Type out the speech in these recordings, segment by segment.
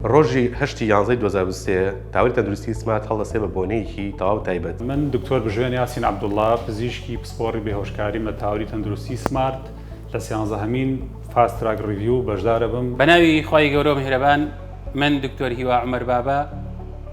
ڕۆژی هەشتی یانزەی دوو هەزار و سێ، تاوەری تەندروستیی سمات هەڵدەستێ بە بۆنەیەکی تەواو تایبەت. من دکتۆر بژێن یاسین عەبدوڵا، پزیشکی پسپۆڕی بێهۆشکاریم لە تاوەری تەندروستیی سمارت، لە سیانزەهەمین فاست تراک ڕیڤیو بەشدارەبم. بە ناوی خوای گەورە و میهرەبان، من دکتۆر هیوا عومەر بابە،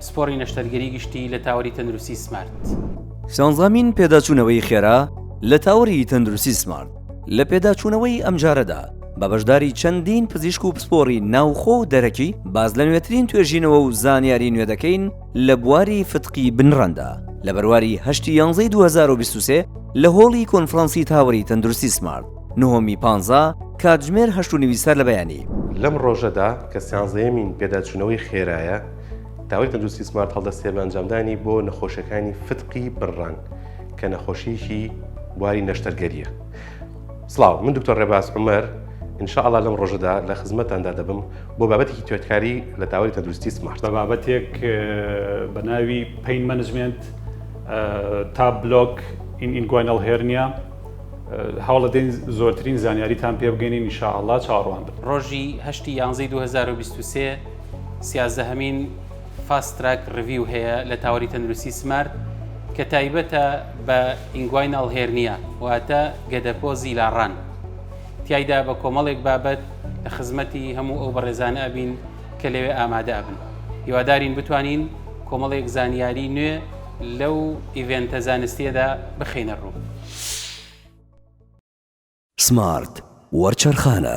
پسپۆڕی نەشتەرگەری گشتی لە تاوەری تەندروستیی سمارت. سیانزەهەمین پێداچوونەوەی خێرا لە تاوەری تەندروستیی سمارت. لە پێداچوونەوەی ئەمجارەدا بە بەشداری چەندین پزیشک و پسپۆڕی ناوخۆ و دەرەکی باس لە نوێترین توێژینەوە و زانیاری نوێ دەکەین لە بواری فتقی بنڕەندا لە بەرواری هەشتی یانزەی 2023 لە هۆڵی کۆنفرانسی تاوەری تەندروستی سمارت نهۆمی پانزا کاتژمێر هەشت و نیوی سەر لە بەیانی. لەم ڕۆژەدا کە سیانزەیەمین پێداچوونەوەی خێرایە تاوەری تەندروستی سمارت هەڵدەستێ بە ئەنجامدانی بۆ نەخۆشەکانی فتقی بنڕەن. کە نەخۆشیکی بواری نەشتەرگەریە سلااو من دکتۆر ڕێباز عمەر انشاءله لەم ڕۆژەدا لە خزمەتاندا دەبم بۆ بابەتێکی توێتکاری لە تاوەری تەندروستی سمارت بە بابەتێک بە ناوی پین منجمنت تا بلۆک این ئینگوینەڵ هێرنیا هەوڵە دێن زۆرترین زانیاریتان پێ بگەین نیشاءله چاڕوان ڕۆژی هەشتی یانزەی 2023 سیازدە هەمین فاست تراک ڕیڤیو هەیە لە تاوەری تەندروستی سمارت کە تایبەتە بە ئینگوایناڵ هێرنیا واتە گەدەپۆزی لاڕان تایدا بە کۆمەڵێک بابەت لە خزمەتی هەموو ئەو بەڕێزانە ئەبین کە لەوێ ئامادە ئەبن هیوادارین بتوانین کۆمەڵێک زانیاری نوێ لەو ئیڤێنتە زانستیەدا بخینە ڕوو. سمارت وەرچەرخانە.